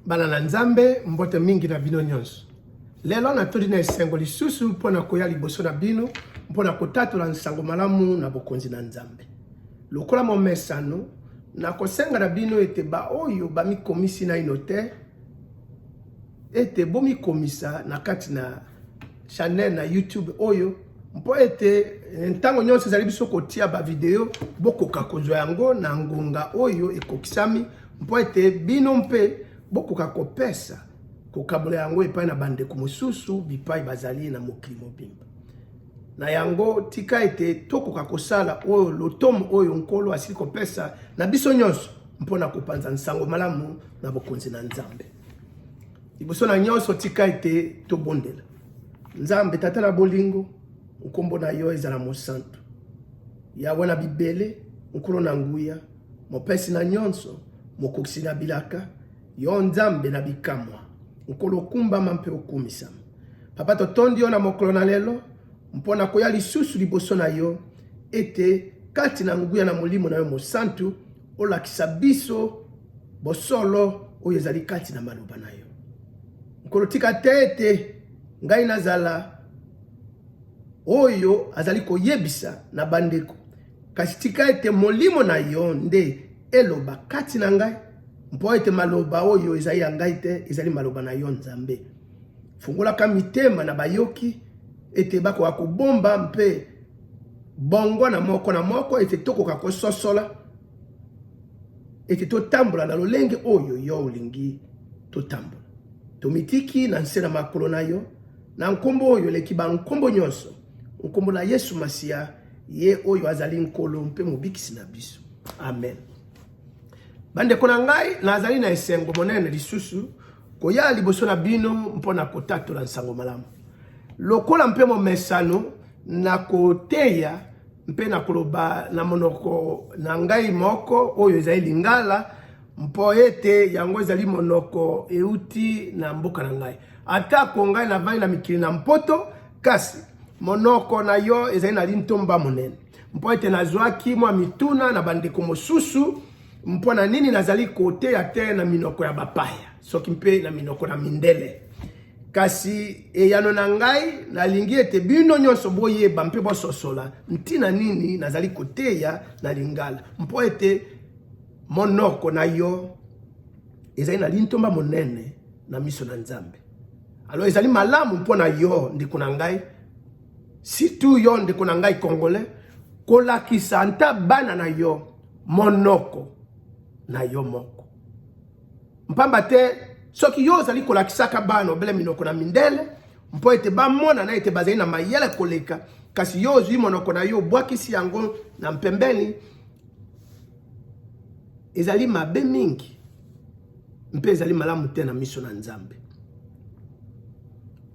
bana na nzambe mbote mingi na bino nyonso lelo natoli na esengo lisusu mpo na koya liboso na bino mpo na kotatola nsango malamu na bokonzi na nzambe lokola momesano nakosenga na bino ete baoyo bamikomisi naino te ete bomikomisa na kati na chanel na youtube oyo mpo ete eh, ntango nyonso ezali biso kotia bavideo bokoka kozwa yango na ngonga oyo ekokisami mpo ete bino mpe bokoka kopesa kokabola yango epai na bandeko mosusu bipai bazali na mokili mobimba na yango tika ete tokoka kosala oyo lotomo oyo nkolo asili kopesa na biso nyonso mpo na kopanza nsango malamu na bokonzi na nzambe liboso na nyonso tika ete tobondela nzambe tata na bolingo nkombo na yo ezala mosantu yawe na bibele nkolo na nguya mopesi na nyonso mokokisi na bilaka yo nzambe na bikamwa nkolo okumbama mpe okumisama papa totondi yo na mokolo na lelo mpo na koya lisusu liboso na yo ete kati na nguya na molimo na yo mosantu olakisa biso bosolo oyo ezali kati na maloba na yo. Nkolo, tika te ete ngai nazala oyo azali koyebisa na bandeko, kasi tika ete molimo na yo nde eloba kati na ngai, mpo ete maloba oyo ezali ya ngai te, ezali maloba na yo Nzambe. Fungolaka mitema na bayoki ete bakoka kobomba mpe bongo na moko na moko ete tokoka kososola ete totambola na lolenge oyo yo olingi totambola tomitiki na nse na makolo na yo na nkombo oyo eleki bankombo nyonso nkombo na yesu masiya ye oyo azali nkolo mpe mobikisi na biso amen bandeko na ngai nazali na esengo monene lisusu koya liboso na bino mpo na kotatola nsango malamu lokola mpe momesano Na koteya mpe na koloba na monoko na ngai moko oyo ezali Lingala mpo ete yango ezali monoko euti na mboka na ngai. Atako ngai navandi na mikili na Mpoto, kasi monoko na yo ezali na lintomba monene mpo ete nazwaki mwa mituna na bandeko mosusu mpo na nini nazali koteya te na minoko ya bapaya soki mpe na minoko na mindele. Kasi eyano na ngai, nalingi ete bino nyonso boyeba mpe bososola ntina nini nazali koteya na Lingala, mpo ete monoko na yo ezali na lintomba monene na miso na Nzambe. Alo ezali malamu mpo na yo ndeko na ngai, situ yo ndeko na ngai Congolais, kolakisa nta bana na yo monoko na yo moko. mpamba te soki yo ozali kolakisaka bana obele minoko na mindele mpo ete bamonana ete bazali na mayele koleka kasi yo ozwi monoko na yo obwakisi yango na mpembeni ezali mabe mingi mpe ezali malamu te na miso na nzambe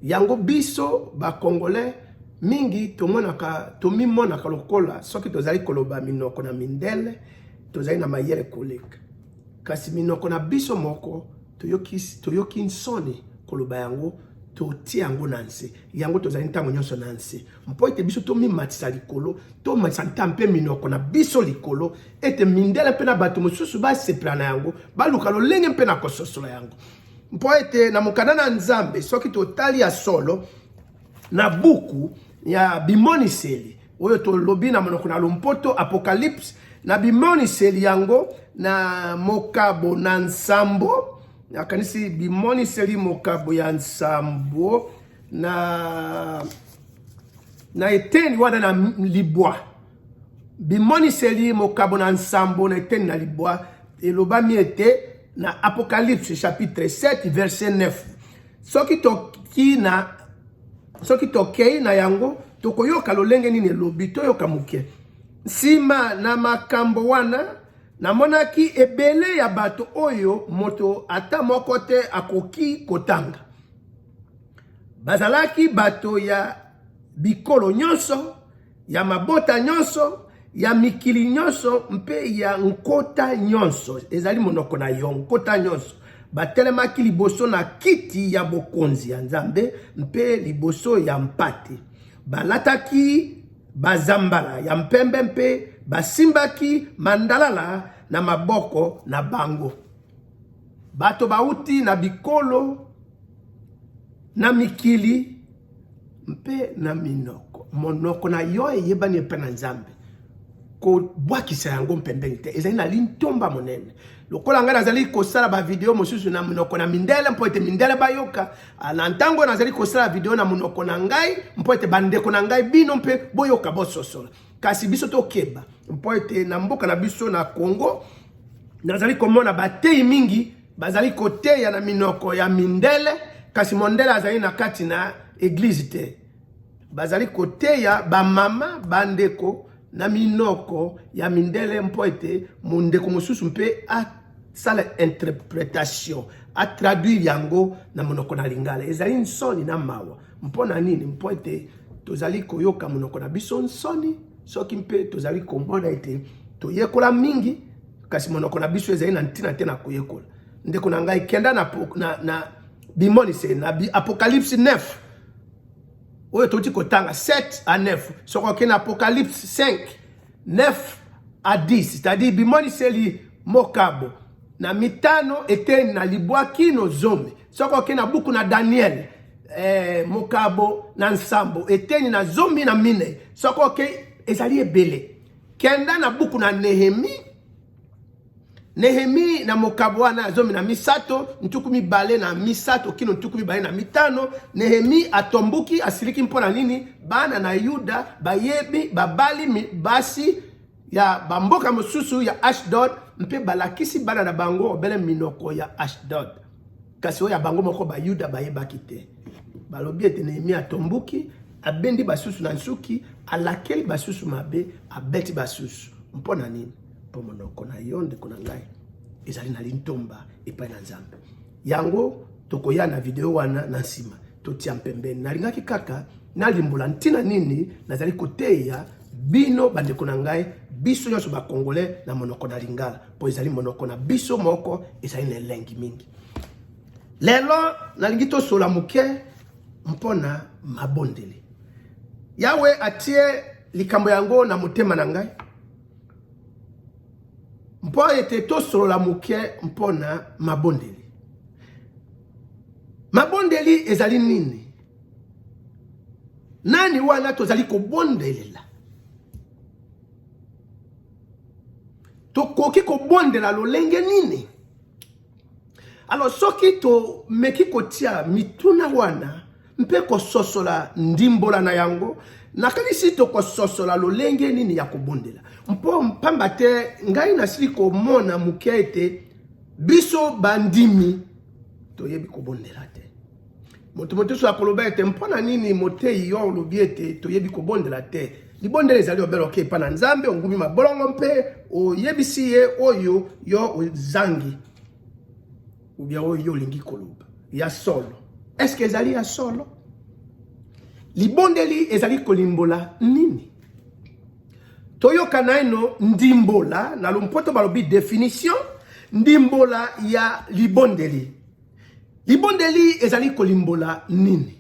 yango biso bakongole mingi tomonaka tomimonaka lokola soki tozali koloba minoko na mindele tozali na mayele koleka Kasi minoko na biso moko toyoki, toyoki nsoni koloba yango, totie yango na nse. Yango tozali ntango nyonso na nse, mpo ete biso tomimatisa likolo, tomatisa nta mpe minoko na biso likolo, ete mindele mpe na bato mosusu basepela na yango, baluka lolenge mpe na kososola yango. Mpo ete na mokanda na Nzambe, soki totali ya solo na buku ya bimoniseli, oyo tolobi na monoko na lompoto apocalypse na bimoniseli yango na mokabo na nsambo nakanisi bimoniseli mokabo ya nsambo na na eteni wana na libwa bimoniseli mokabo na nsambo na eteni na libwa elobami ete na apocalypse chapitre 7 verset 9 Soki toki na soki tokei na yango tokoyoka lolenge nini elobi toyoka moke nsima na makambo wana namonaki ebele ya bato oyo moto ata moko te akoki kotanga bazalaki bato ya bikolo nyonso ya mabota nyonso, ya mikili nyonso mpe ya nkota nyonso, ezali monoko na yo, nkota nyonso batelemaki liboso na kiti ya bokonzi ya Nzambe mpe liboso ya mpate. Balataki bazambala ya mpembe mpe basimbaki mandalala na maboko na bango. Bato bauti na bikolo, na mikili mpe na minoko. Monoko na yo eyebani epai na Nzambe. Kobwakisa yango mpembeni te, ezali na lintomba monene. Lokola ngai nazali kosala bavideo mosusu na monoko na mindele mpo ete mindele bayoka, ah, na ntango nazali kosala video na monoko na ngai mpo ete bandeko na ngai bino mpe boyoka bososola. kasi biso tokeba mpo ete na mboka na biso na Congo nazali komona bateyi mingi bazali koteya na minoko ya mindele kasi mondele azali na kati na eglize te bazali koteya bamama bandeko na minoko ya mindele mpo ete mondeko mosusu mpe asala interpretation atraduire yango na monoko na lingala ezali nsoni na mawa Mpo na nini? Mpo ete tozali koyoka monoko na biso nsoni soki mpe tozali komona ete toyekola mingi kasi monoko na biso ezali na ntina te na koyekola ndeko na ngai kenda na, na, na bimonise na bi apocalypse 9 oyo touti kotanga 7 à 9 soki okei na apocalypse 5 9 à 10 c'est-à-dire bimoniseli mokabo na mitano eteni na libwa kino zomi soki oke na buku na daniele eh, mokabo na nsambo eteni na zomi na minei soki oke ezali ebele kenda na buku na nehemi nehemi na mokabo wana ya zomi na misato ntuku mibale na misato kino ntuku mibale na mitano nehemi atomboki asiliki mpo na nini bana na yuda bayebi babali basi ya bamboka mosusu ya Ashdod mpe balakisi bana na bango obele minoko ya Ashdod, kasi oyo ya bango moko Bayuda bayebaki te. Balobi ete Nehemia atombuki, abendi basusu na nsuki, alakeli basusu mabe, abeti basusu. Mpo na nini? Mpo monoko na yo, ndeko na ngai, ezali na lintomba epai na Nzambe. Yango tokoya na video wana na nsima. totia mpembeni. Nalingaki kaka nalimbola ntina nini nazali koteya bino bandeko na ngai biso nyonso bakongole na monoko na lingala mpo ezali monoko na biso moko ezali na elengi mingi lelo nalingi tosola moke mpo na mabondeli yawe atie likambo yango na motema na ngai mpo ete tosolola moke mpo na mabondeli Mabondeli ezali nini? Nani wana tozali kobondelela? Tokoki kobondela lolenge nini? Alors soki tomeki kotia mituna wana mpe kososola ndimbola na yango nakanisi tokososola lolenge nini ya kobondela mpo mpamba te ngai nasili komona moke ete biso bandimi toyebi kobondela te moto mosusu akoloba ete mpo na nini moteyi yo olobi ete toyebi kobondela te libondela ezali obele oke epai na nzambe ongumi mabolongo mpe oyebisi ye oyo yo ozangi ou bien oyo yo olingi koloba ya solo est ce que ezali ya solo libondeli ezali kolimbola nini toyoka naino ndimbola na lompoto balobi definition ndimbola ya libondeli libondeli ezali kolimbola nini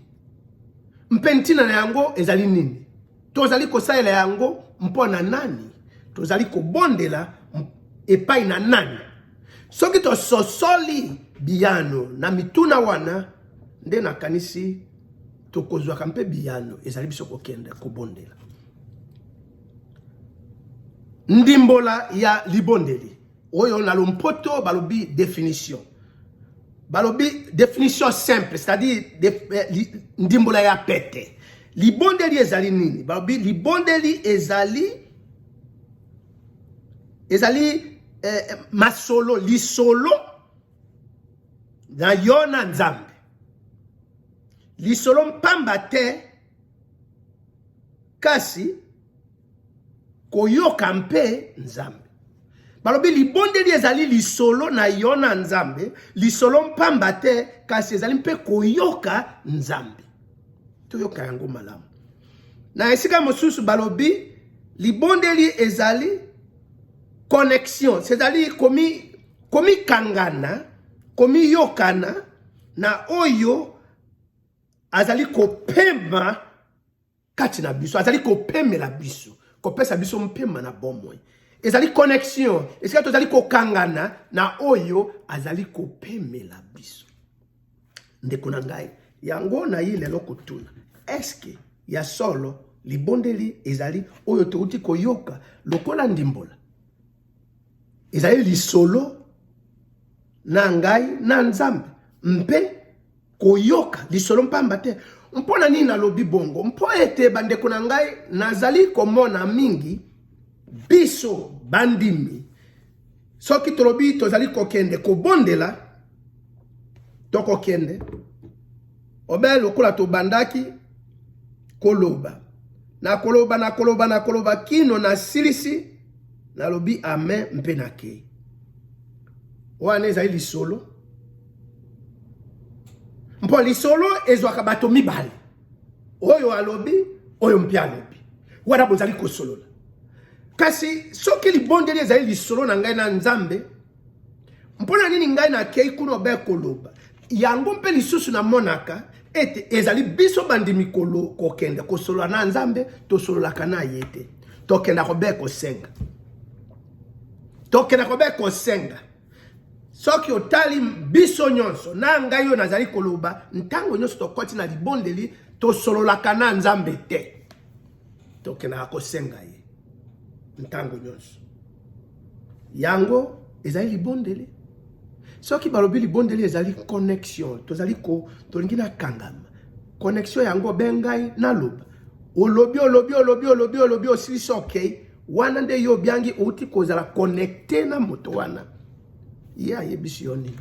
mpe ntina na yango ezali nini tozali kosalela yango mpo na nani tozali kobondela epai na nani Soki tososoli biyano na mituna wana, nde nakanisi tokozwaka mpe biyano ezali biso kokende kobondela. Ndimbola ya libondeli oyo na lompoto balobi definition balobi definition simple c'est-à-dire eh, ndimbola ya pete libondeli ezali nini balobi libondeli ezali ezali eh, eh masolo lisolo na yo na nzambe lisolo mpamba te kasi koyoka mpe nzambe balobi libondeli ezali lisolo na yo na nzambe lisolo mpamba te kasi ezali mpe koyoka nzambe toyoka yango malamu Na esika mosusu balobi libondeli ezali connexion, c'est-à-dire komi komikangana, komiyokana na oyo azali kopema kati na biso, azali kopemela biso, kopesa biso mpema na bomoi. Ezali connexion, esika tozali kokangana na oyo azali kopemela biso. ndeko na ngai yango na ye lelo kotuna eske ya solo libondeli ezali oyo touti koyoka lokola ndimbola ezali lisolo na ngai na nzambe mpe koyoka lisolo mpamba te mpo na nini nalobi bongo mpo ete bandeko na ngai nazali komona mingi biso bandimi soki tolobi tozali kokende kobondela tokokende obe lokola tobandaki koloba nakoloba nakoloba nakoloba kino nasilisi nalobi amen mpe nakei wana ezali lisolo mpo lisolo ezwaka bato mibale oyo alobi oyo mpe alobi wana bozali kosolola kasi soki libondeli ezali lisolo na ngai na nzambe mpo na nini ngai nakei kuna obe koloba yango mpe lisusu namonaka ete ezali biso bandimi kokende kosolola na nzambe tosololaka na ye te tokenda kobe kosenga tokenda kobe kosenga soki otali biso nyonso na ngai oyo nazali koloba ntango nyonso tokoti na libondeli tosololaka na nzambe te tokendaka kosenga ye ntango nyonso yango ezali libondeli soki balobi libondeli ezali connexion tozali ko tolingi nakangama connexion yango be ngai naloba olobi olobi olobi olobi olobi osilisi okei okay. Wana nde yo obiangi outi kozala connecte na moto wana. Ye ayebisi yo nini?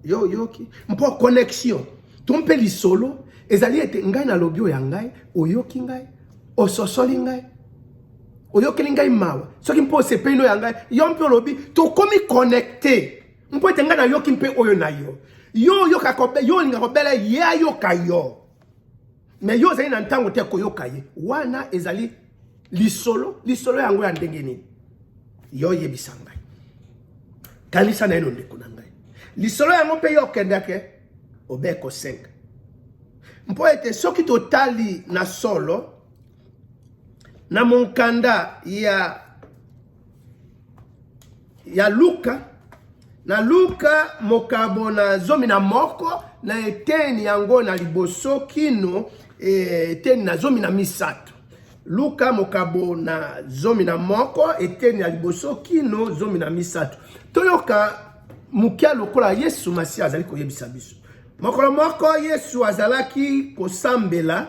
Yo oyoki? Mpo connexion to mpe lisolo ezali ete ngai nalobi oyo ya ngai, oyoki ngai, ososoli ngai, oyokeli ngai mawa soki mpe osepeli no ya ngai, yo mpe olobi tokomi connecte mpo ete ngai nayoki mpe oyo na yo yo oyoka yo olinga kobela ye ayoka yo Mais yo ozali na ntango te koyoka ye. Wana ezali lisolo, lisolo yango ya ndenge nini? Yo yebisa ngai. Kanisa na ye ndeko na ngai. Lisolo yango mpe yo okendeke obeko 5. Mpo ete soki totali na solo na monkanda ya ya Luka na Luka mokabo na zomi na moko na eteni yango na liboso kino eh, eteni na zomi na misato Luka mokabo na zomi na moko eteni ya liboso kino zomi na misato toyoka mokia lokola Yesu Masiya azali koyebisa biso mokolo moko Yesu azalaki kosambela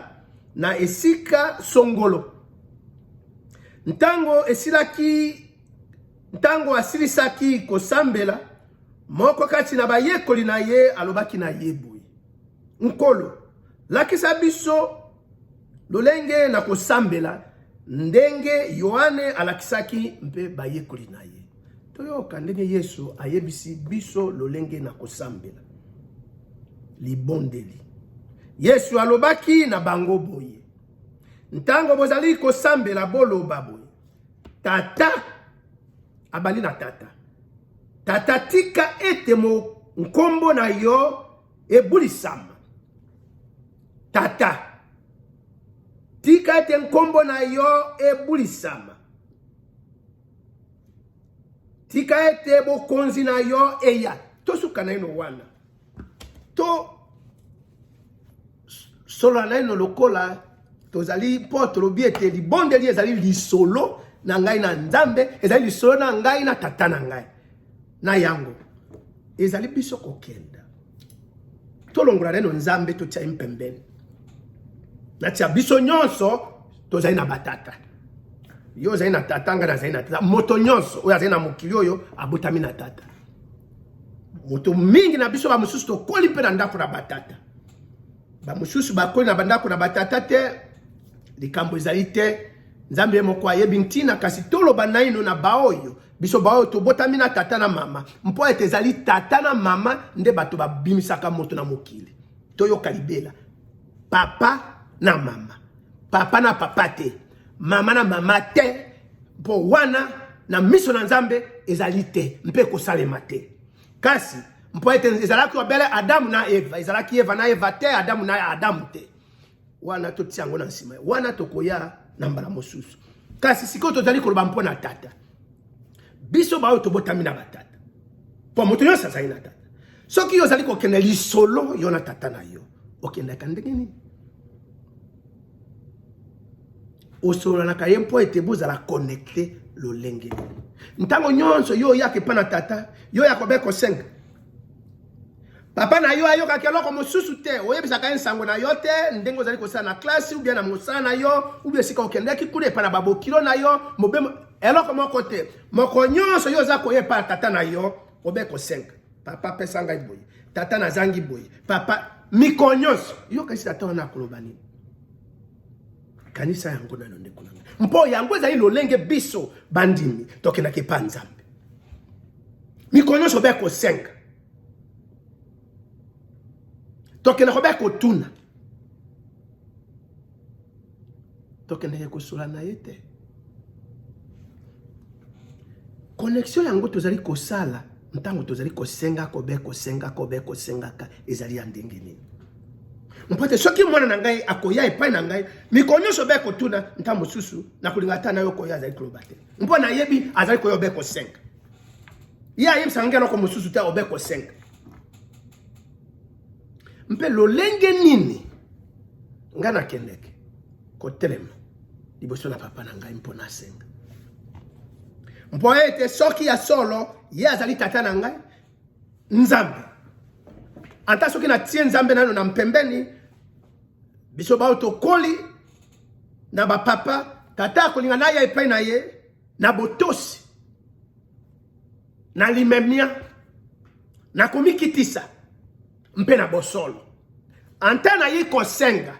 na esika songolo Ntango esilaki, ntango asilisaki kosambela, moko kati na bayekoli na ye alobaki na ye boye, Nkolo, lakisa biso lolenge na kosambela ndenge Yohane alakisaki mpe bayekoli na ye. Toyoka ndenge Yesu ayebisi biso lolenge na kosambela. Libondeli. Yesu alobaki na bango boye, ntango bozali kosambela boloba boye tata abandi na tata tata tika ete nkombo na yo ebulisama tata tika ete nkombo na yo ebulisama tika ete bokonzi na yo eya tosuka naino wana to solo naino lokola tozali mpo tolobi ete libondeli ezali lisolo na ngai na nzambe ezali lisolo na ngai na tata na ngai na yango ezali biso kokenda tolongola naino nzambe totia ye mpembeni natia biso nyonso tozali na batata yo ozali na tata ngai nazali na tata moto nyonso oyo azali na mokili oyo abotami na tata moto mingi na biso bamosusu tokoli mpe na ndako na batata bamosusu bakoli na bandako na batata te likambo ezali te nzambe ye moko ayebi ntina kasi toloba naino na baoyo biso baoyo tobotami na tata na mama mpo ete ezali tata na mama nde bato babimisaka moto na mokili toyoka libela papa na mama papa na papa te mama na mama te mpo wana na miso na nzambe ezali te mpe kosalema te kasi mpo ete ezalaki obele adamu na eva ezalaki eva na eva te adamu na adamu te wana totia yango na nsima wana tokoya na mbala mosusu kasi sikoyo tozali koloba mpo na tata biso baoyo tobotami na batata mpo moto nyonso azali na tata soki yo ozali kokende lisolo yo na tata na yo okendaka ndenge nini osololanaka ye mpo ete bozala connecte lolenge ntango nyonso yo oyaka epai na tata yo ya kobe kosenga papa na yo ayokaki eloko mosusu te oyebisaka ye nsango na yo te ndenge ozali kosala na klasi ubia na mosala na yo ubia esika okendaki kuna epai na babokilo na yo mobemo eloko moko te moko nyonso yo oza koya epai na tata na yo obe kosenga papa pesa ngai boye tata nazangi boye papa mikolo nyonso yokanisi tata wana akoloba nini kanisa yango nano ndeko na ngai mpo yango ezali lolenge biso bandimi tokendaka epa nzambe mikolo nyonso obe kosenga tokendaka obe kotuna tokendeke kosula na ye te connexion yango tozali kosala ntango tozali kosenga kobe kosenga kobe kosengaka ezali ya ndenge nini mpo te soki mwana na ngai akoya epai na ngai mikolo nyonso be kotuna ntango mosusu nakolinga ata na yo koya azali koloba te mpo nayebi azali koya obe kosenga ye ayebisaka ngai eloko mosusu te obe kosenga mpe lolenge nini ngai nakendeke kotelema liboso na papa na ngai mpo nasenga mpo ete soki ya solo ye azali tata na ngai nzambe ata soki natie nzambe nano na mpembeni biso baoyo tokoli na bapapa tata akolinga naya epai na ye na botosi na limemia, na komikitisa mpe na bosolo. Anta naye kosenga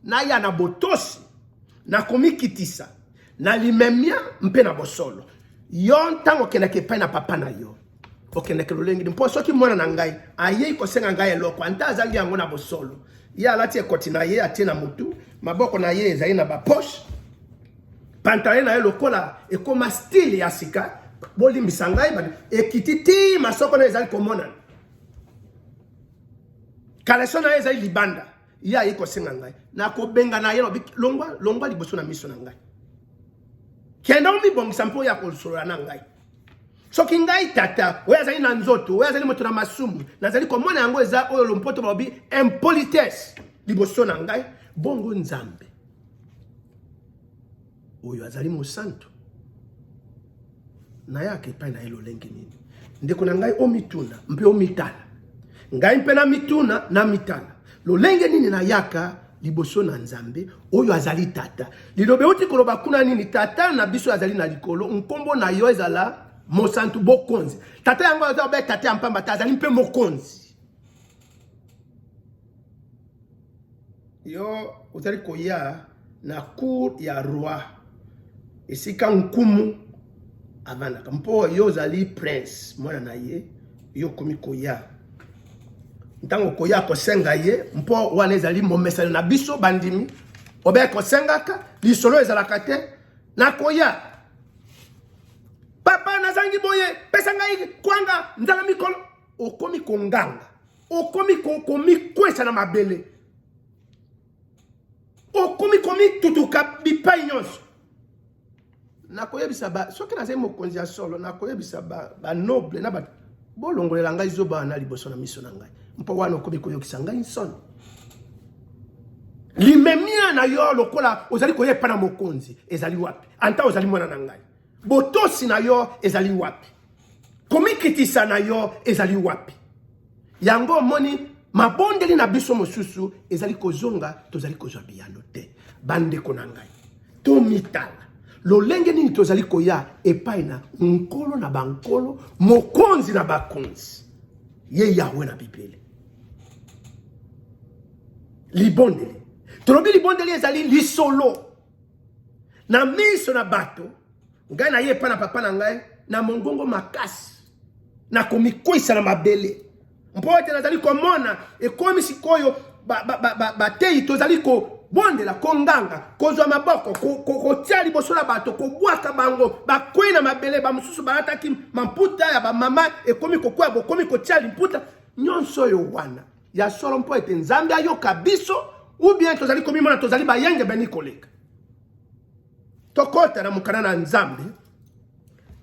naya na botosi, na komikitisa, na limemia mpe na bosolo. Yo ntango okendaki epai na papa na yo okendeke lolenge nini mpo soki mwana na ngai ayei kosenga ngai eloko anta azangi yango na bosolo ye alati ekoti na ye atie na motu maboko na ye ezali na baposhe Pantale na ye lokola ekoma style ya sika, bolimbisa ngai ba ekiti ti masoko na ezali komonana. Kaleso na ye ezali libanda. Ye ayi kosenga ngai. Nakobenga na ye lobi longwa longwa liboso na miso na ngai. Kende omibongisa mpo ya kosolola na ngai. soki ngai tata oyo azali na nzoto oyo azali moto na masumu nazali komona yango eza oyo lompoto balobi impolitesse liboso na ngai bongo nzambe oyo azali mosantu nayaka epai na ye lolenge nini ndeko na ngai omituna mpe omitala ngai mpe namituna namitala lolenge nini nayaka liboso na nzambe oyo azali tata liloba euti koloba kuna nini tata na biso azali na likolo nkombo na yo ezala mosantu bokonzi tata yango aza obe tata ya mpamba te azali mpe mokonzi yo ozali koya na cour ya roi esika nkumu avandaka mpo yo ozali prince mwana na ye yo okomi koya ntango koya kosenga ye mpo wana ezali momesano na biso bandimi obe kosengaka lisolo ezalaka te nakoya papa nazangi boye pesa ngai kwanga nzala mikolo okomi konganga okomi komikwesa na mabele okomi komitutuka bipai nyonso nakoyebisa ba soki nazali mokonzi ya solo nakoyebisa banoble ba na bato bolongolela ngai zoba wana liboso na miso na ngai mpo wana okomi koyokisa ngai nsoni limemia na yo lokola ozali koya epai na mokonzi ezali wapi anta ozali mwana na ngai Botosi na yo ezali wapi? Komikitisa na yo ezali wapi? Yango omoni mabondeli na biso mosusu ezali kozonga, tozali kozwa biyano te. Bandeko na ngai, tomitala lolenge nini tozali koya epai na nkolo na bankolo, mokonzi na bakonzi, ye Yahwe na Bibele. Libondeli, tolobi libondeli ezali lisolo na miso na bato ngai naye epai na papa na ngai na mongongo makasi na komikwisa na mabele mpo ete nazali komona ekomi sikoyo bateyi tozali kobondela konganga kozwa maboko kotia liboso na bato kobwaka bango bakwei na mabele bamosusu balataki mamputa ya bamama ekomi kokwea bokomi kotia limputa nyonso oyo wana ya solo mpo ete nzambe ayoka biso ubien tozali komimona tozali bayengebeni koleka tokota na mokana na nzambe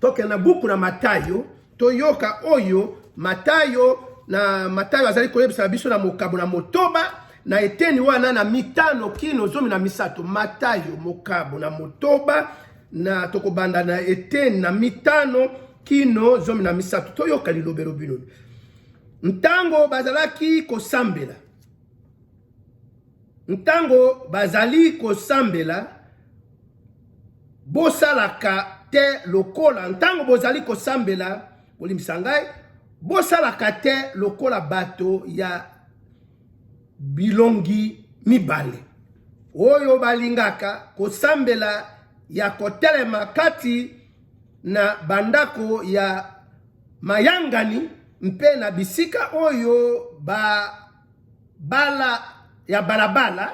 tokende na buku na matayo toyoka oyo matayo na matayo azali koyebisa biso na mokabo na motoba na eteni wana na mitano kino zomi na misato matayo mokabo na motoba na tokobanda na eteni na mitano kino zomi na misato toyoka lilobelo bino Ntango bazalaki kosambela, ntango bazali kosambela, bosalaka te lokola ntango bozali kosambela, bolimbisa ngai, bosalaka te lokola bato ya bilongi mibale oyo balingaka kosambela ya kotelema kati na bandako ya mayangani mpe na bisika oyo ba bala ya balabala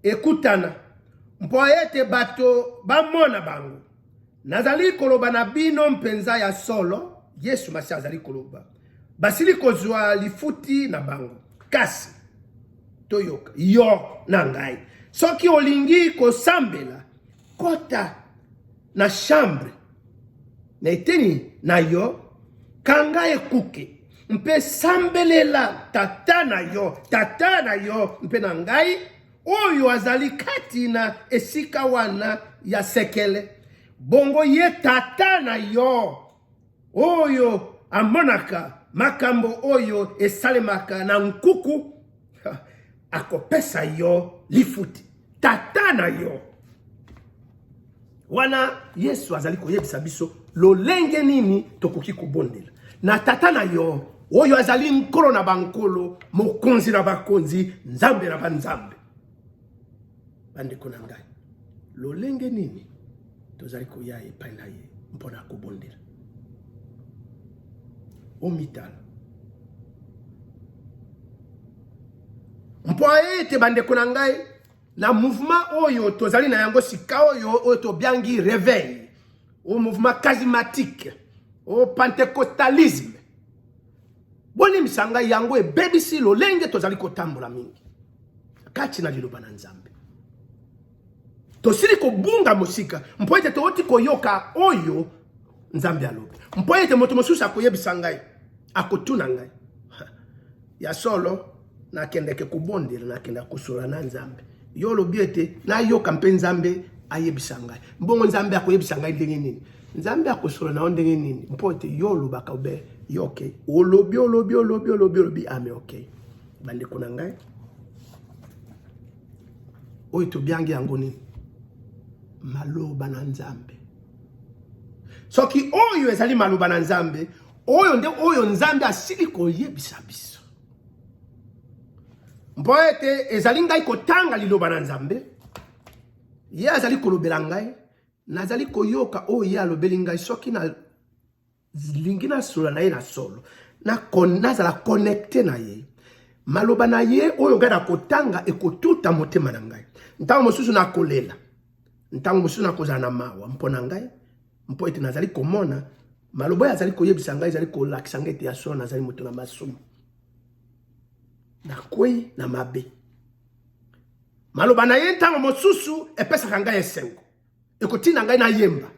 ekutana mpo ete bato bamona bango. Nazali koloba na bino mpenza ya solo, Yesu Masiya azali koloba, basili kozwa lifuti na bango. Kasi toyoka yo na ngai, soki olingi kosambela kota na chambre na eteni na yo kanga ekuke mpe sambelela tata na yo tata na yo mpe na ngai oyo azali kati na esika wana ya sekele bongo ye tata na yo oyo amonaka makambo oyo esalemaka na nkuku akopesa yo lifuti tata na yo wana yesu azali koyebisa biso lolenge nini tokoki kobondela na tata na yo oyo azali nkolo na bankolo mokonzi na bakonzi nzambe na banzambe Bandeko na ngai, lolenge nini tozali koya epai na ye mpo na kobondela? Omitala mpo ete bandeko na ngai na mouvement oyo tozali na yango sika oyo oyo tobiangi reveil au mouvement charismatique au pentecostalisme Bolimbisa ngai, yango ebebisi lolenge tozali kotambola mingi kati na liloba na Nzambe. Tosili kobunga mosika mpo ete touti koyoka oyo Nzambe alobi, mpo ete moto mosusu akoyebisa ngai, akotuna ngai ya solo nakendeke kobondela nakendaka kosola na nzambe yo olobi ete nayoka mpe nzambe ayebisa ngai mbongo nzambe akoyebisa ngai ndenge nini nzambe akosola na yo ndenge nini mpo ete yo olobaka obe yo oke olobi olobi olobi olobi olobi ame oke bandeko na ngai oyo tobiangi yango nini maloba na nzambe soki oyo ezali maloba na nzambe oyo nde oyo nzambe asili koyebisa biso mpo ete ezali ngai kotanga liloba na nzambe ye azali kolobela ngai nazali koyoka oyo ye alobeli ngai soki nalingi nasola na ye na solo nazala connecte na ye maloba na ye oyo ngai nakotanga ekotuta motema na ngai ntango mosusu nakolela ntango mosusu nakozala na mawa mpo na ngai mpo ete nazali komona Maloba azali koyebisa ngai ezali kolakisa ngai ete ya solo nazali moto na masumu, nakwei na mabe. Maloba na ye ntango mosusu epesaka ngai esengo, ekotinda ngai nayemba,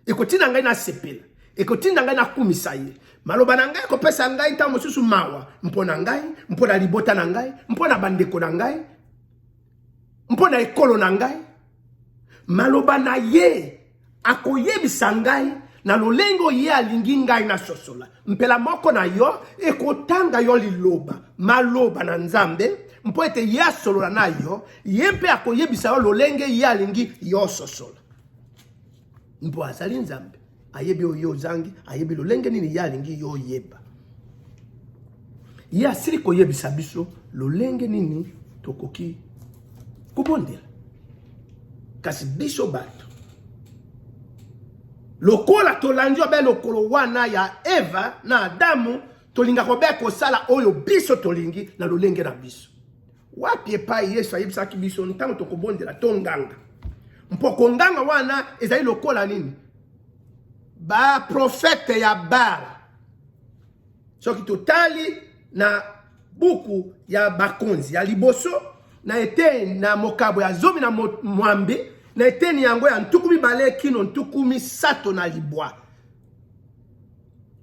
ekotinda ngai nasepela, ekotinda ngai nakumisa ye. Maloba na ngai ekopesa ngai ntango mosusu mawa mpo na ngai, mpo na libota na ngai, mpo na bandeko na ngai, mpo na ekolo na ngai. Maloba na ye Akoyebisa ngai na lolengo ye alingi ngai na sosola mpela moko na yo ekotanga yo liloba maloba na nzambe mpo ete ye asolola na yo ye mpe akoyebisa yo lolenge ye alingi yo ososola mpo azali nzambe ayebi oyo ozangi ayebi lolenge nini ye alingi yo oyeba ye asili koyebisa biso lolenge nini tokoki kobondela kasi biso bato lokola tolandi obe lokolo wana ya eva na adamu tolinga kobe kosala oyo biso tolingi na lolenge na biso wapi epai yesu ayebisaki biso ntango tokobondela tonganga mpo konganga wana ezali lokola nini baprofete ya bala Soki totali na buku ya bakonzi ya liboso na eteni na mokabo ya zomi na mwambe na eteni yango ya ntuku mibale kino ntuku misato na libwa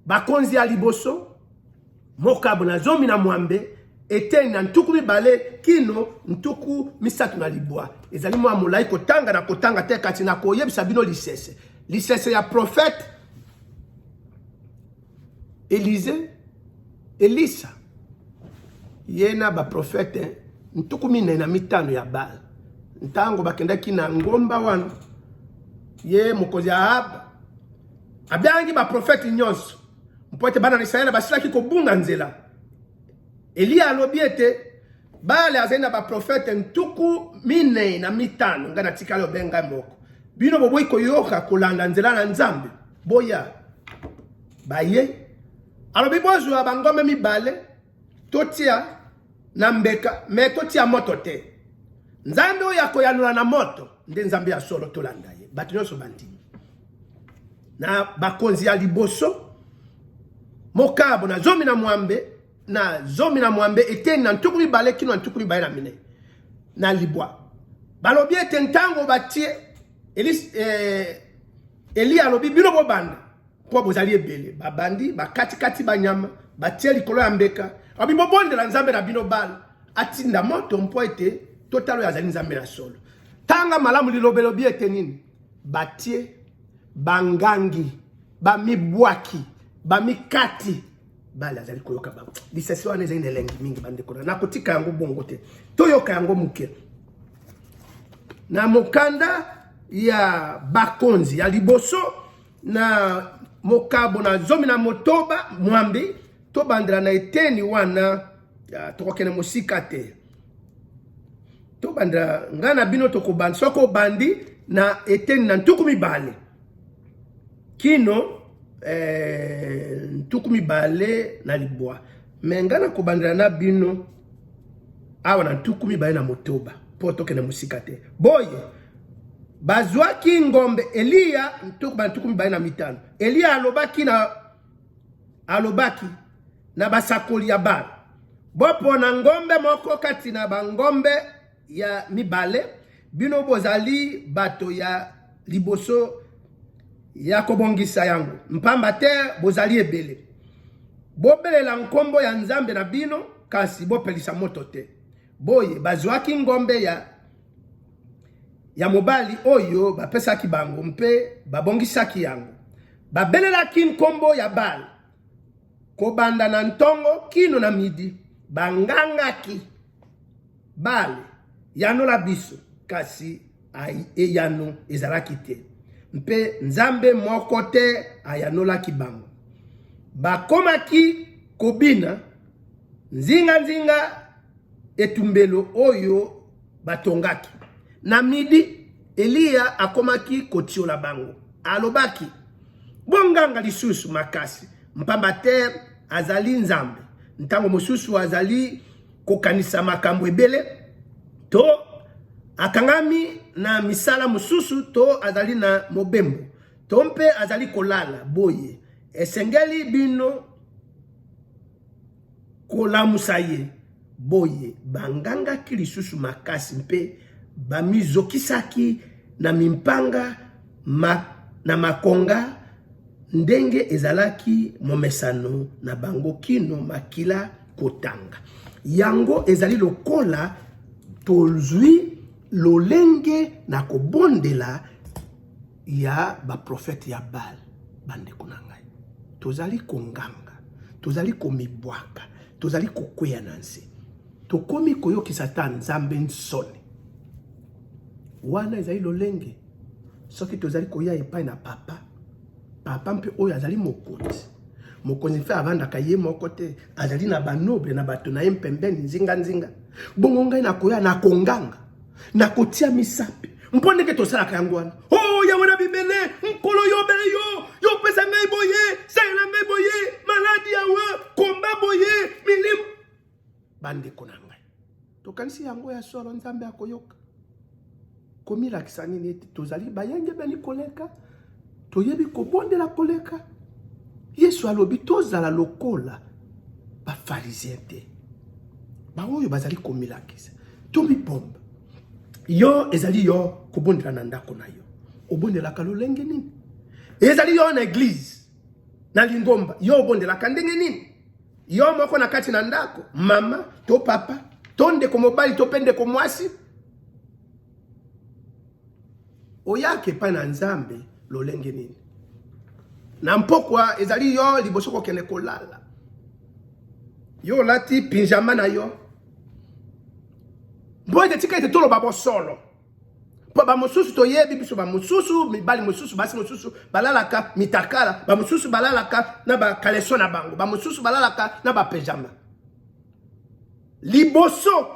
bakonzi ya liboso mokabo na zomi na mwambe eteni na ntuku mibale kino ntuku misato na libwa ezali mwa molai kotanga na kotanga te kasi na koyebisa bino lisese lisese ya profete Elize, Elisa, ye na baprofete ntuku minei na mitano ya Baal, ntango bakendaki na ngomba wana, ye mokonzi Ahab abiangi baprofete nyonso mpo ete bana na Isalaele basilaki kobunga nzela. Eliya alobi ete Bale azali na baprofete ntuku minei na mitano ngai natikali obenga moko bino boboyi koyoka kolanda nzela na nzambe boya baye alobi bozwa bangombe mibale totia na mbeka me totia moto te nzambe oyo akoyanola na moto nde nzambe ya solo tolanda ye bato nyonso bandimi na bakonzi ya liboso mokabo na zomi na mwambe na zomi na mwambe eteni na ntuku mibale kino na ntuku mibale na minei na libwa balobi ete ntango batie eh, eliya alobi bino bobanda mpo bozali ebele babandi bakatikati banyama batie likolo ya mbeka abi bobondela nzambe na bino bala atinda moto mpo ete totala oyo azali nzambe na solo tanga malamu lilobelobi ete nini batie bangangi bamibwaki bamikati bale azali koyoka bango lisasi wana ezali na elengi mingi bandeko na nakotika yango bongo te toyoka yango moke na mokanda ya bakonzi ya liboso na mokabo na zomi na motoba mwambi tobandela na eteni wana tokokende mosika te tobandela ngai na bino tokobanda soki obandi na eteni na ntuku mibale kino eh, ntuku mibale na libwa me ngai nakobandela na bino awa na ntuku mibale na motoba mpo tokende mosika te boye bazwaki ngombe eliya ntuku ba ntuku mibale na mitano eliya alobaki na alobaki na basakoli ya bala bopona ngombe moko kati na bangombe ya mibale bino bozali bato ya liboso ya kobongisa yango mpamba te bozali ebele bobelela nkombo ya nzambe na bino kasi bopelisa moto te boye bazwaki ngombe ya ya mobali oyo bapesaki bango mpe babongisaki yango babelelaki nkombo ya bale Kobanda na ntongo kino na midi, bangangaki, Bale, yanola biso! Kasi eyano ezalaki te, mpe nzambe moko te ayanolaki bango. Bakomaki kobina nzinganzinga etumbelo oyo Batongaki. Na midi, Eliya akomaki kotiola bango. Alobaki, Bonganga lisusu makasi, mpamba te azali Nzambe. Ntango mosusu azali kokanisa makambo ebele, to akangami na misala mosusu, to azali na mobembo, to mpe azali kolala. Boye esengeli bino kolamusa ye. Boye, bangangaki lisusu makasi mpe bamizokisaki na mimpanga ma, na makonga, ndenge ezalaki momesano na bango, kino makila kotanga. Yango ezali lokola tozwi lolenge na kobondela ya ba prophète ya Baal bandeko na ngai tozali konganga tozali komibwaka tozali kokweya na nse tokomi koyokisa ata nzambe nsoni wana ezali lolenge soki tozali koya epai na papa papa mpe oyo azali mokonzi mokonzi mpe avandaka ye moko te azali na banoble na bato na ye mpembeni nzinganzinga bongo ngai nakoya na konganga nakotia misapi mpo ndenge tosalaka yango wana o oh, yango na bibele nkolo yobele yo yopesa ngai boye salela ngai boye maladi yawa komba boye milimu bandeko na ngai tokanisi yango ya solo nzambe akoyoka komilakisa nini ete tozali bayengebeni koleka Toyebi kobondela koleka. Yesu alobi tozala lokola bafarizien te, baoyo bazali komilakisa. Tomibomba yo, ezali yo kobondela na ndako na yo, obondelaka lolenge nini? Ezali yo na eglize na lingomba, yo obondelaka ndenge nini? Yo moko na kati na ndako, mama to papa to ndeko mobali to mpe ndeko mwasi oyaka epai na nzambe lolenge nini na mpokwa ezali yo liboso kokende kolala yo olati pinjama na yo mpo ete tika ete toloba bosolo mpo bamosusu toyebi biso bamosusu mibali mosusu basi mosusu balalaka mitakala bamosusu balalaka na bakaleso na bango bamosusu balalaka na bapejama liboso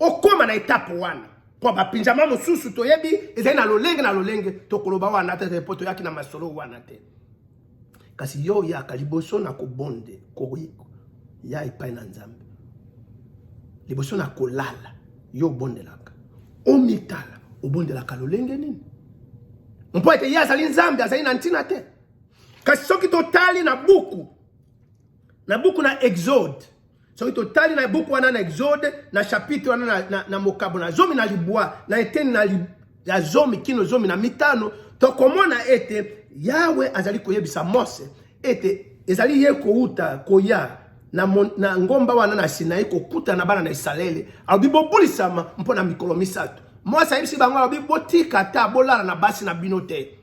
okoma na etape wana mpo bapinzama mosusu toyebi ezali na lolenge na lolenge tokoloba wana te mpo toyaki na masolo wana te kasi yo oyaka liboso na kobonde ya epai na nzambe liboso na kolala yo obondelaka omitala obondelaka lolenge nini mpo ete ye azali nzambe azali na ntina te kasi soki totali na buku na buku na exode soki totali na buku wana na exode na chapitre wana na, na, na mokabo na zomi na libwa na eteni na li, ya zomi kino zomi na mitano tokomona ete yawe azali koyebisa mose ete ezali ye kouta koya na, mon, na ngomba wana na sinai kokutana na bana na isalaele alobi bobulisama mpo na mikolo misato mose ayebisi bango alobi botika ata bolala na basi na bino te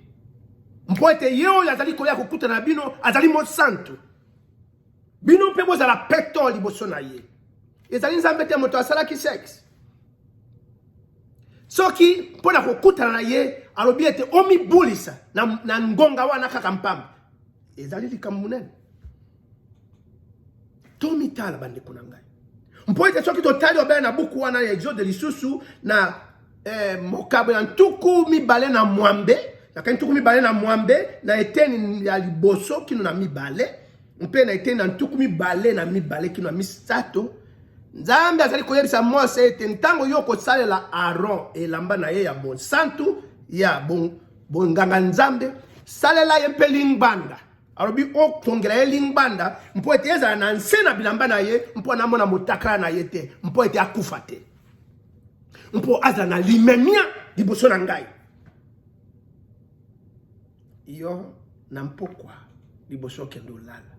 mpo ete ye oyo azali koya kokutana na bino azali mosantu bino mpe bozala peto liboso na ye ezali nzambe te moto asalaki sexe soki mpo na kokutana na ye alobi ete omibulisa na, na ngonga wana kaka mpamba ezali likambo monene tomitala bandeko na ngai Mpo ete soki totali obele na buku wana ya Exode lisusu na eh, mokabo ya ntuku mibale na mwambe nakai ntuku mibale na mwambe na eteni ya liboso kino na mibale mpe na eteni na ntuku mibale na mibale kino na misato nzambe azali koyebisa mose ete ntango yo okosalela aron elamba na ye ya bonsantu ya bonganga nzambe salela ye mpe lingbanda alobi okongela ye lingbanda mpo ete ezala na nse na bilamba na ye mpo anamona motakala na ye te mpo ete akufa te mpo azala na limemia liboso na ngai yo na mpokwa liboso okende olala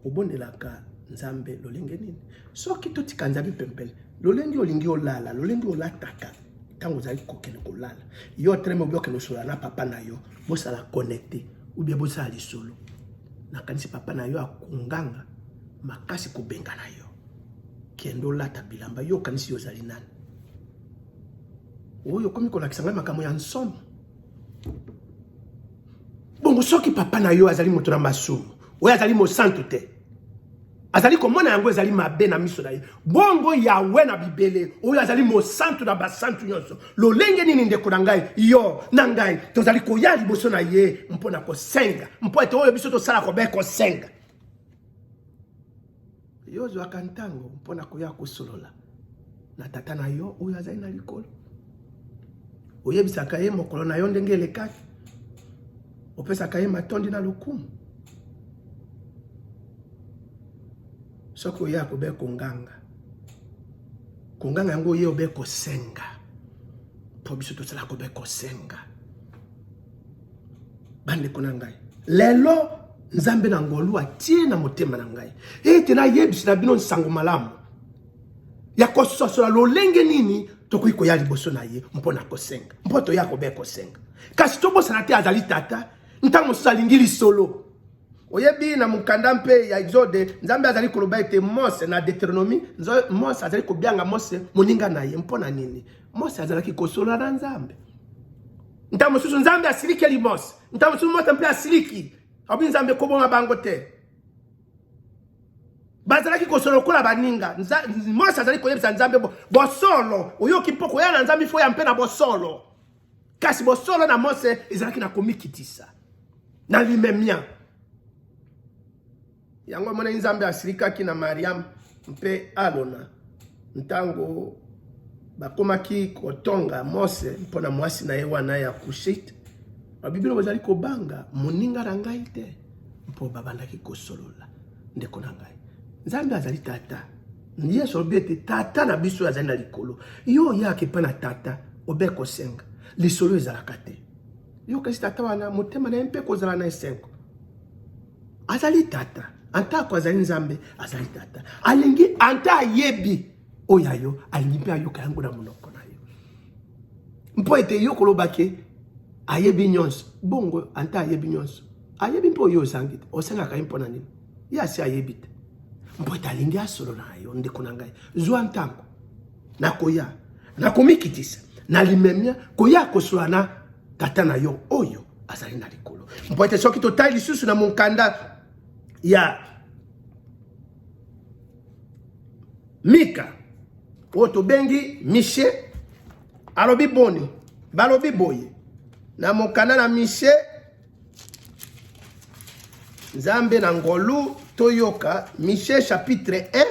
obondelaka nzambe lolenge nini soki totika nzambe pempele lolenge olingi olala lolenge olataka ntango ozali kokende kolala yo otelemi obi okende kosolola na papa na yo bosala connecte ubie bosala lisolo nakanisi papa na yo akonganga makasi kobengana yo kende olata bilamba yo okanisi yo ozali nani oyo okomi kolakisa ngai makambo ya nsomo bongo soki papa na yo azali moto na masumu oyo azali mosantu te azali komona yango ezali mabe na miso na ye bongo yawe na bibele oyo azali mosantu na basantu nyonso lolenge nini ndeko na ngai yo na ngai tozali koya liboso na ye mpo na kosenga mpo ete oyo biso tosala kobe kosenga Yo ozwaka ntango mpo na koya kosolola na tata na yo oyo azali na likolo? Oyebisaka ye mokolo na yo ndenge elekaki? Opesaka ye matondi na lokumu? Soki oye akobe konganga, konganga yango oye obe kosenga, mpo biso tosalaka obe kosenga bandeko na ngai lelo nzambe na ngolu atie na motema na ngai ete nayebisi na bino nsango malamu ya kososola lolenge nini tokoki koya liboso na ye mpo na kosenga mpo toya kobe kosenga kasi tobosana te azali tata ntango mosusu alingi lisolo oyebi na mokanda mpe ya exode nzambe azali koloba ete mose na deuteronomi mose azali kobyanga mose moninga na ye mpo na nini Mose azalaki kosola na Nzambe. Ntango mosusu Nzambe asilikeli Mose, ntango mosusu Mose mpe asiliki, abi Nzambe kobonga bango te. bazalaki kosolo lokola baninga mose azali koyebisa nzambe bosolo oyoki mpo koya na nzambe ifo ya mpe na bosolo kasi bosolo na mose ezalaki na komikitisa na limemia Yango emonani Nzambe asilikaki na Mariam mpe Alona ntango bakomaki kotonga Mose mpo na mwasi na ye wana ya Kushite. Babiblia bazali kobanga moninga na ngai te mpo babandaki kosolola. Ndeko na ngai, Nzambe azali tata. Yesu alobi ete tata na biso azali na likolo. Yo oyaka epai na tata obe kosenga, lisolo ezalaka te. Yokesi tata wana motema na ye mpe kozala na esengo. Azali tata, atako azali Nzambe, azali tata. Alingi ata ayebi oyo ya yo, alingi mpe ayoka yango na monoko na yo, mpo ete yo koloba ke ayebi nyonso. Bongo ata ayebi nyonso, ayebi mpe oyo ozangi te, osengaka ye mpo na nini? Ye asi ayebi te, mpo ete alingi asolola na yo, ndeko na ngai, zwa ntango na koya na komikitisa na limemia koya kosola na tata na yo oyo azali na likolo mpo ete soki totali lisusu na monkanda ya mika oyo tobengi mishe alobi boni balobi boye na mokanda na mishe nzambe na ngolu toyoka miche chapitre 1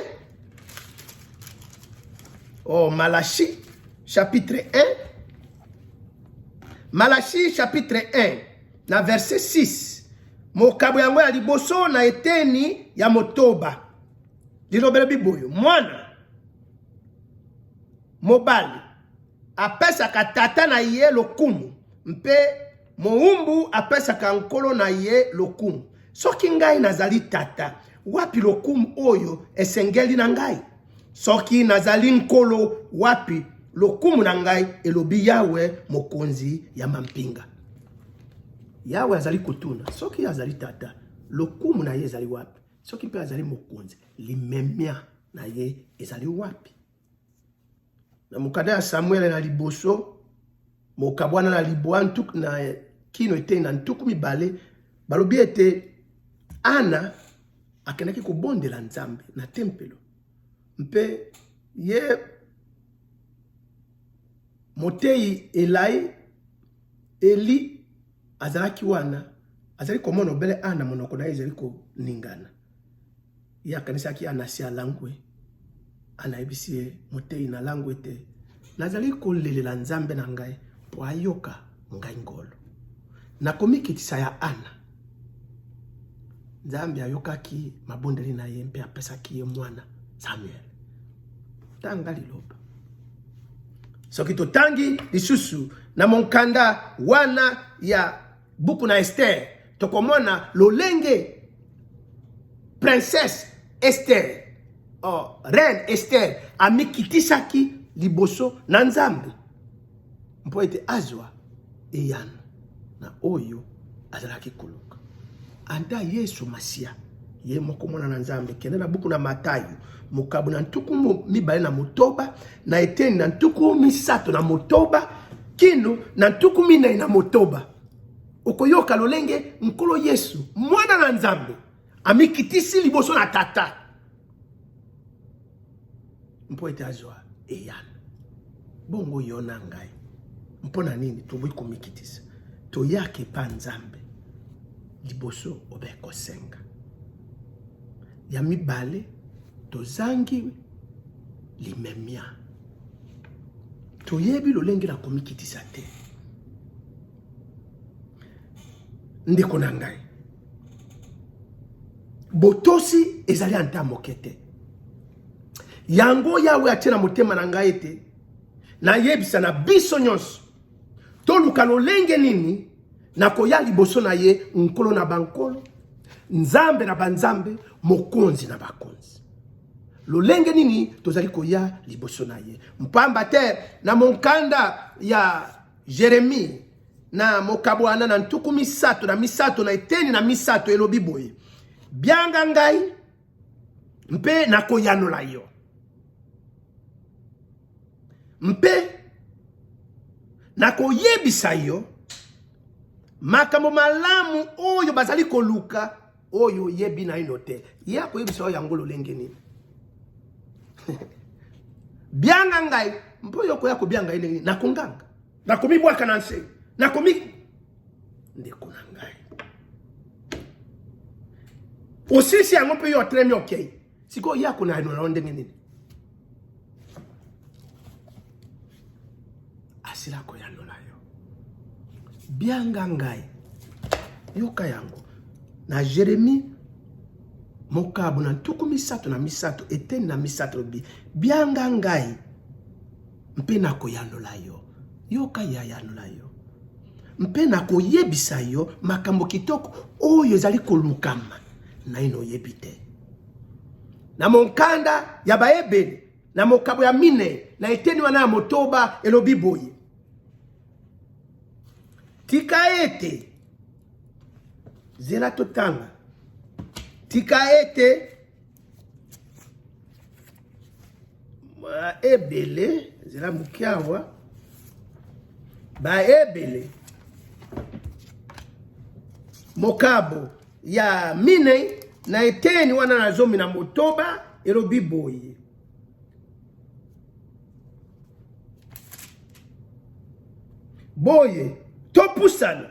o oh, malachi chapitre 1 malachi chapitre 1 na verset 6 mokabo yango ya liboso na eteni ya motoba lilobelo biboyo mwana mobali apesaka tata na ye lokumu mpe Mowumbu apesaka nkolo na ye lokumu. Soki ngai nazali tata, wapi lokumu oyo esengeli na ngai? Soki nazali nkolo, wapi lokumu na ngai? Elobi Yawe, Mokonzi ya mampinga. Yawe azali kotuna, soki azali tata, lokumu na ye ezali wapi? Soki mpe azali mokonzi, limemia na ye ezali wapi? na mokanda ya Samuele na liboso mokabwana na libwa ntuku na kino etei na ntuku mibale balobi ete Ana akendaki kobondela Nzambe na tempelo mpe ye moteyi elai eli azalaki wana azali komona obele Ana monoko na ye ezali koningana Ye akanisaki Anasi alangwe. Ana ayebisi ye, Moteyi, nalangwe te. Nazali kolelela Nzambe na ngai mpo ayoka ngai ngolu. Na komikitisa ya Ana, Nzambe ayokaki mabondeli na ye mpe apesaki ye mwana Samuel. Tanga liloba. Soki totangi lisusu na monkanda wana ya Buku na Esther tokomona lolenge princesse Esther oh, reine Esther amikitisaki liboso na Nzambe mpo ete azwa eyano na oyo azalaki koluka. Ata Yesu Masiya ye moko mwana na Nzambe. Kende na buku na Matayo mokabo na ntuku mibale na motoba na eteni na ntuku misato na motoba kino na ntuku minei na motoba okoyoka lolenge nkolo Yesu mwana na Nzambe amikitisi liboso na tata mpo ete azwa eyano. Bongo yo na ngai, mpo na nini tokoki komikitisa? Toyaka epa Nzambe liboso obe kosenga. Ya mibale, tozangi limemia, toyebi lolenge na komikitisa te. ndeko na ngai botosi ezali ata moke te yango yawe atie na motema na ngai ete nayebisa na biso nyonso toluka lolenge nini nakoya liboso na ye nkolo na bankolo nzambe na banzambe mokonzi na bakonzi lolenge nini tozali koya liboso na ye mpamba te na monkanda ya Jeremie na mokabwana na ntuku misato na misato na eteni na misato elobi boye bianga ngai mpe nakoyanola yo mpe nakoyebisa yo makambo malamu oyo bazali koluka oyo oyebi naino te ye akoyebisa yo yango lolenge nini bianga ngai mpo yo okoya kobianga ngai ndenge nini nakonganga nakomibwaka na nse nakomi ndeko na ngai osisi yango mpe yo otelemi okei Sikoyo ye akolayanola yo ndenge nini? Asila koyanola yo. Bianga ngai. Yoka yango. Na Jeremie mokabo na ntuku misato na misato eteni na misato lobi bianga ngai Mpe nakoyanola yo. Yoka ye ayanola yo. Mpe nakoyebisa yo makambo kitoko oyo ezali kolukama naino oyebi te. Na monkanda ya Baebele, na mokabo ya minei, na eteni wana ya motoba, elobi boye tika ete zela totanga tika ete baebele nzela moke awa baebele mokabo ya minei na eteni wana na zomi na motoba elobi boye boye topusana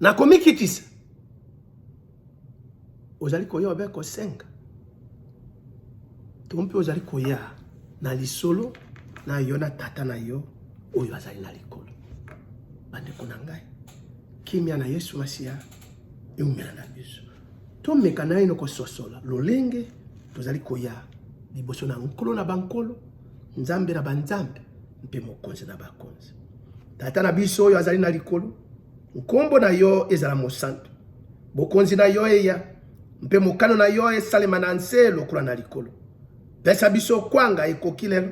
na komikitisa ozali koya obe kosenga to mpe ozali koya na lisolo na yo na tata na yo oyo azali na likolo bandeko na ngai kimia na yesu masiya eumela na biso tomeka naino kososola lolenge tozali koya liboso na nkolo na bankolo nzambe na banzambe mpe mokonzi na bakonzi Tata na biso oyo azali na likolo, nkombo na yo ezala mosantu. Bokonzi na yo eya, mpe mokano na yo esalema na nse lokola na likolo. Pesa biso kwanga ekoki lelo.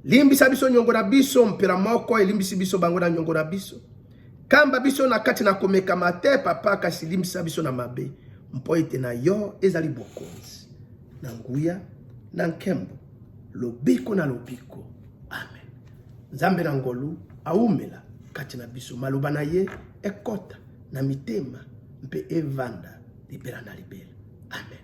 Limbisa biso nyongo na biso, mpela moko elimbisi biso bango na nyongo na biso. Kamba biso na kati na komekama te, Papa, kasi limbisa biso na mabe, mpo ete na yo ezali bokonzi na nguya na nkembo lobiko na lobiko. Nzambe na ngolu aumela kati na biso, maloba na ye ekota na mitema mpe evanda libela na libela. Amen.